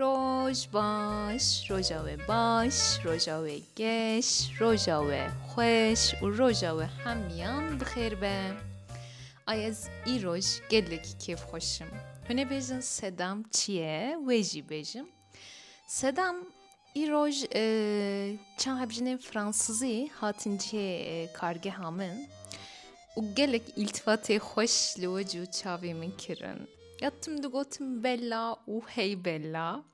Roj baş, roja we baş, roja we geş, roja we xweş û roja we hemiyan bi xêr be. Ay ez îroj gelekî kêfxweş im. Hûn ê bêjin sedam çi ye wê jî bêjim. Sedam îroj çend hevjinên fransizî hatin cihê kargeha min û gelek îltifatê xweş li we cû çavê min kirin. Ya tim digotin bella û hey bella.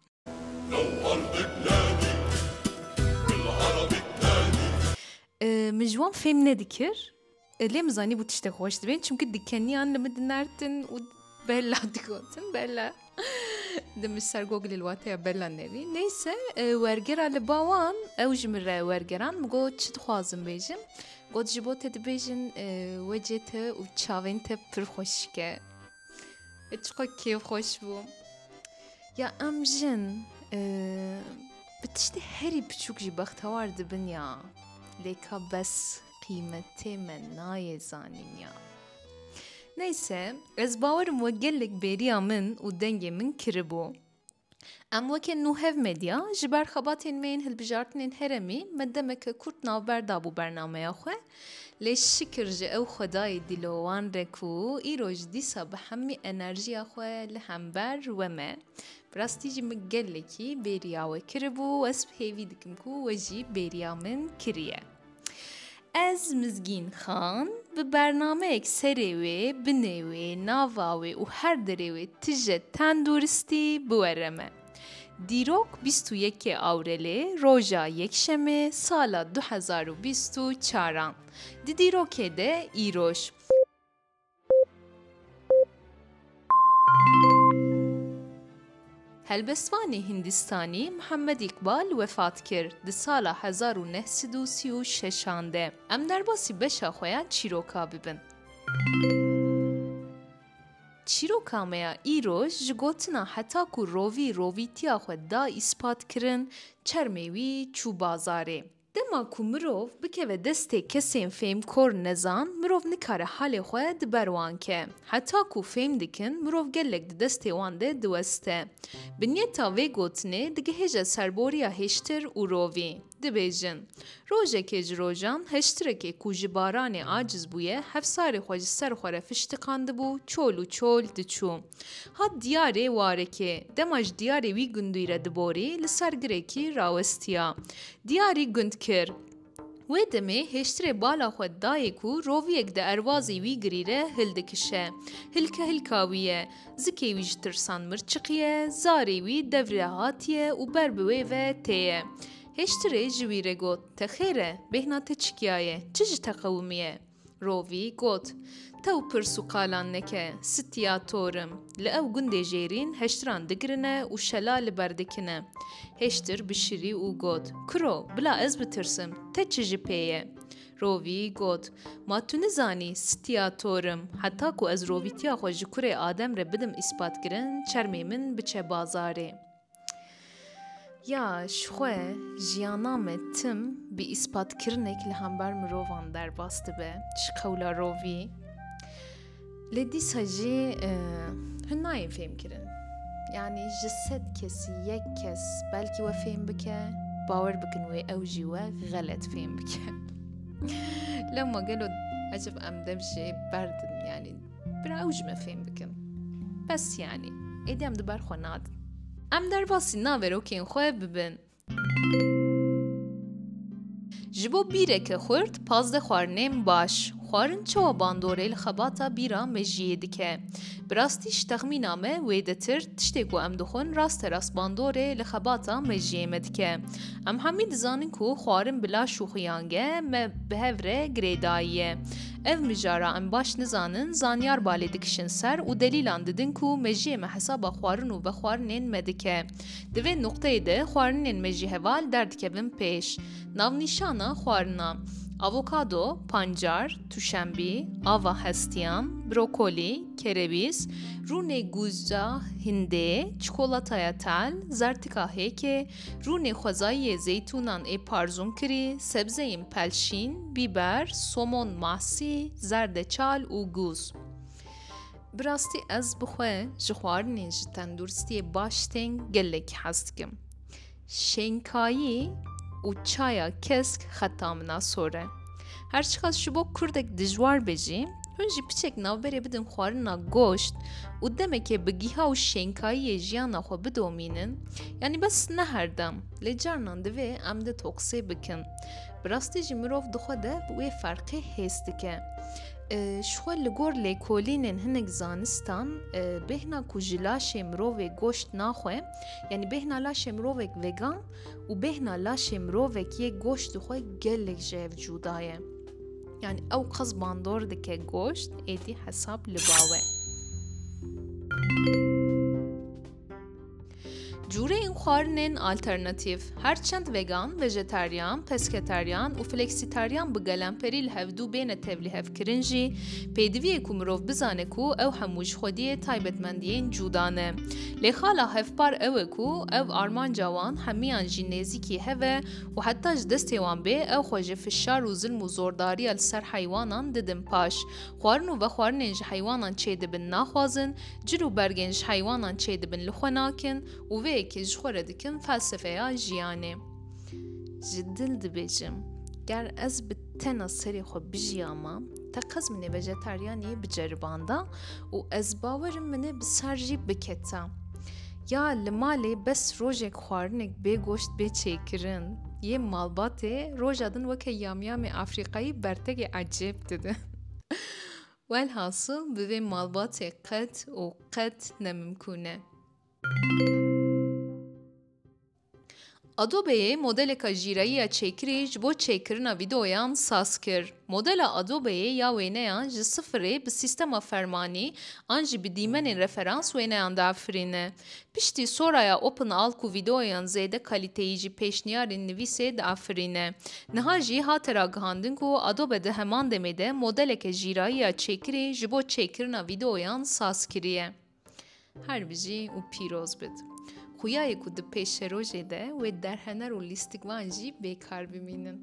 Min ji wan fêm nedikir. Lê min zanîbû tiştê xweş dibên çimkî dikeniyan li min dinartin û bella digotin bella di min ser gogilê li wateya bella nebî neyse e, wergera li bawan ew ji min re wergeran min got çi dixwazim bêjim got ji bo te dibêjin e, wecê te û çavên te pir xweşike e, çiqo kêf xweş bû ya em jin e, bi tiştê herî biçûk jî bextewar dibin ya lê ka bes qîmetê me nayê zanîn ya. Neyse, ez bawerim we gelek bêriya min û dengê min kiribû. Em weke nû hev medya ji ber xebatên me yên hilbijartinên heremî me demeke kurt navber dabû bernameya xwe lê şikir ji ew xwedayê dîlowan re ku îro ji dîsa bi hemî enerjiya xwe li hember we me bi rastî jî min gelekî bêriya we kiribû û ez hêvî dikim ku we jî bêriya min kiriye. Ez Mizgîn Xan bi bernameyek serê wê, binê wê, nava wê û her derê wê tije tenduristî biwere me. Dîrok bîst û yekê Awrelê roja Yekşemê sala du hezar û bîst û çar a. Di dîrokê de îroj. Helbestvanê Hîndîstanî Mihemed Îqbal wefat kir di sala hezar û neh sed û sî û şeş an de. Em derbasî beşa xwe ya çîroka bibin. Çîroka me ya îro ji gotina heta ku rovî rovîtiya xwe da îspat kirin, çermê wî çû bazarê. Dema ku mirov bikeve destê kesên fêmkor nezan, mirov nikare halê xwe di ber wan ke. Heta ku fêm dikin, mirov gelek di destê wan de diweste. Binyeta vê gotinê digihêje serboriya hêştir û rovî. Dibêjin, Rojekê ji rojan, heştirekê ku ji baranê aciz bûye, hefsarê xwe ji ser xwe re fiştiqandibû, çol û çol diçû. Hat diyarê warekê. Dema ji diyarê wî gundî re diborî, li sergirekî rawestiya. Diyarî gund kir. Wê demê hêştirê bala xwe dayê ku roviyek di erwazî wî girî re hil dikişe. Hilke hilka wî ye. Zikê wî ji tirsan mir çiqiye, zarê wî dev re hatiye û ber bi wê ve tê ye. Hêştirê ji wî re got, Te xêr e, bêhna te çikiyaye, çi ji te qewimiye? Rovî got, Tew pirs û qalan neke, sitiya tor im. Li ew gundê jêrîn heştiran digirine û şela li ber dikine. Heştir bişirî û got, Kuro, bila ez bitirsim, te çi ji pê ye? Rovî got, Ma tu nizanî, sitiya tor im, heta ku ez rovîtiya xwe ji kurê Adem re bidim îspatkirin, çermê min biçe bazarê. Ya ji xwe jiyana me tim bi îspatkirinekî li hember mirovan derbas dibe ji qewla rovî. Lê dîsa jî e, hûn nayên fêmkirin. Yanî ji sed kesî yek kes belkî we fêm bike, bawer bikin wê ew jî we xelet fêm bike. Lewma gelo ecib em dev jê berdin yanî Bira ew ji min fêm bikin. Bes yanî, êdî em di ber xwe nadin. Em derbasî naverokên xwe bibin. Ji bo bîreke xurt pazdeh xwarinên baş xwarin çawa bandorê li xebata bîra mejiyê dike. Bi rastî ji texmîna me wê detir tiştê ku em dixwin rasterast bandorê li xebata mejiyê me dike. Em hemî dizanin ku xwarin bila şûxiyange me bi hev re girêdayiye. Ev mijara em baş nizanin zanyar balê dikişin ser û delîlan didin ku mejiyê me hesaba xwarin û vexwarinên me dike. Di vê nuqteyê de xwarinên me jî heval derdikevin pêş. Navnîşana xwarina, Avokado, pancar, tûşenbî, ava hestiyan, brokolî, kerewîz, rûnê gûza hindê, çikolataya tel, zertika hêkê, Rûnê xwezayî yê zeytûnan ê parzûn kirî, sebzeyên pelşîn, bîber, somon masî, zerdeçal û gûz. Bi rastî ez bi xwe ji xwarinên ji tenduristiyê baş tên gelekî hez dikim. Şênkayî û çaya kesk xeta min a sor e. Her çiqas ji bo kurdek dijwar be jî, hûn jî piçek navberê bidin xwarina goşt û demekê bi giha û şênkayiyê jiyana xwe bidomînin, yanî bes ne herdem, lê carinan divê em de toksê bikin. Bi rastî jî mirov di xwe de bi wê ferqê hês dike. Ji xwe li gor lêkolînên hinek zanistan bêhna ku ji laşê mirovê goşt naxwe, yanî bêhna laşê mirovek vegan, û bêhna laşê mirovek yê goştê xwe gelek ji hev cuda ye. Yani ew qas bandor dike goşt êdî hesab li bawe. Cûreyên xwarinên alternatîv her çend vegan, vejetaryan, pesketaryan û fleksitaryan bi gelemperî li hevdû bêne tevlîhevkirin jî pêdiviyê ku mirov bizane ku ew hemû ji xwediyê taybetmendiyên cûda ne. Lê xala hevpar ew e ku ev armanca wan hemiyan jî nêzîkî hev e û heta ji destê wan bê ew xwe ji fişar û zilm û zordariya li ser heywanan didin paş. Xwarin û vexwarinên ji heywanan çêdibin naxwazin, cil û bergên ji heywanan çêdibin li xwe nakin û vê yekê ji xwe re dikin felsefeya jiyanê. Ji dil dibêjim, ger ez bi. Tena serê xwe bijiya ma te qez minê vejetaryaniyê biceribanda û ez bawerim minê bi sar jî biketa. Ya li malê bes rojek xwarinek bê goşt bê çêkirin. Yê malbatê roja din weke yamyamê Afrîqayî bertekê ecêb didin. Welhasil bi vê malbatê qet û qet nemimkûn e. Adobe'yê modeleka jîreyiya çêkirî ji bo çêkirina vîdeoyan saz kir. Modela Adobe'yê ya wêneyan ji sifirê bi sîstema fermanî an jî bi dîmenên referans wêneyan diafirîne. Piştî soraya OpenAlk û vîdeoyan zêde kalîteyî jî pêşniyarên nivîsê diafirîne. Niha jî hate ragihandin ku Adobe di heman demê de modeleke jîrayiya çêkirî ji bo çêkirina vîdeoyan saz kiriye. Her bijî û pîroz bit. Xuyayê ku di pêşerojê de wê derhener û lîstikvan jî bêkar bimînin.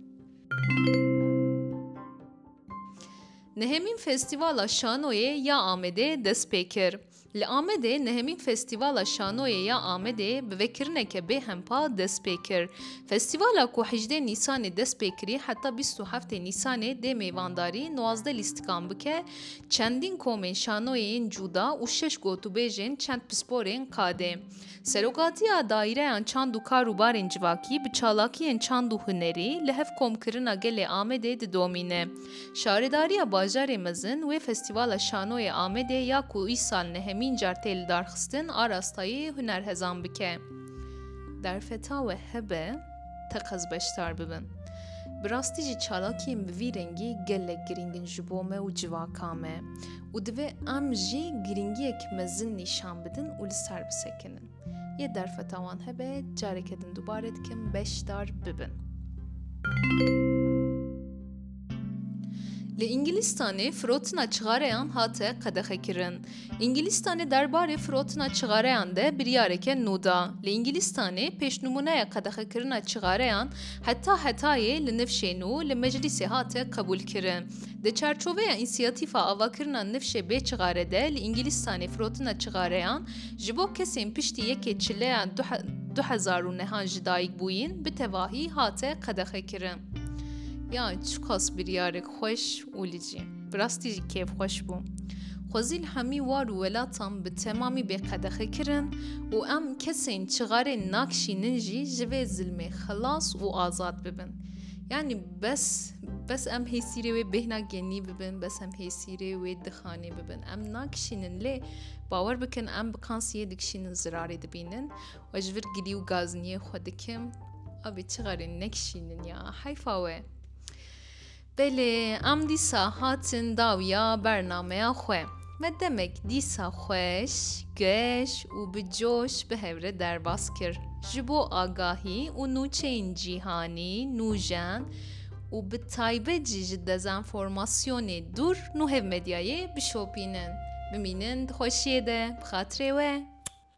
Nehemîn Festîvala Şanoyê ya Amedê dest pê kir. Li Amedê nehemîn Festîvala Şanoyê ya Amedê bi vekirineke bêhempa dest pê kir. Festîvala ku hejdê Nîsanê dest pê kirî heta bîst û heftê Nîsanê dê mêvandarî nwazdeh lîstikan bike Çendîn komên şanoyê yên cûda û şeş gotûbêjên çend pisporên qadê. Serokatiya Daîreyan Çand û Kar û Barên Civakî bi çalakiyên çand û hunerî li hev komkirina gelê Amedê didomîne. Şaredariya Bajarê Mezin wê Festîvala Şanoyê Amedê ya ku îsal nehemîn car tê lidarxistin arastayê hunerhezan bike. Derfeta we hebe? teqez beşdar bibin. Bi rastî jî çalakiyên bi vî rengî gelek girîng in ji bo me û civaka me û divê em jî girîngiyek mezin nîşan bidin û li ser bisekinin. Yê derfeta wan hebe careke din dubare dikim beşdar bibin. Li Îngilîstanê firotina çixareyan hate qedexekirin. Îngilîstanê derbarê firotina çixareyan de biryareke nû da. Li Îngilîstanê pêşnûmuneya qedexekirina çixareyan heta hetayê li nifşê nû li meclîsê hate qebûlkirin. Di çarçoveya însiyatîfa avakirina nifşê bê çixare de li Îngilîstanê firotina çixareyan ji bo kesên piştî yekê çileya du hezar û nehan ji dayikbûyîn bi tevahî hate qedexekirin. Ya çiqas biryarek xweş û li cî. Bi rastî jî kêfxweş bû. Xwezî li hemî war û welatan bi temamî bêqedexe kirin û em kesên çixarê nakişînin jî ji vê zilmê xilas û azad bibin. Yanî bes bes em hêsîrê wê bêhna genî bibin, bes em hêsîrê wê dixanê bibin. Em nakişînin lê bawer bikin em bi kansiyê dikişînin zirarê dibînin We ji vir gilî û gazniyê xwe dikim. Abê çi xerê nekişînin ya heyfa we. Belê em dîsa hatin dawiya bernameya xwe. Me demek dîsa xweş, geş û bi coş bi hevre derbas kir. Ji bo agahî û nûçeyên cîhanî nûjen û bi taybet jî ji dezenformasyonê dûr nû hev medyayê bişopînin. Bimînin di xweşiyê de bi xatirê we.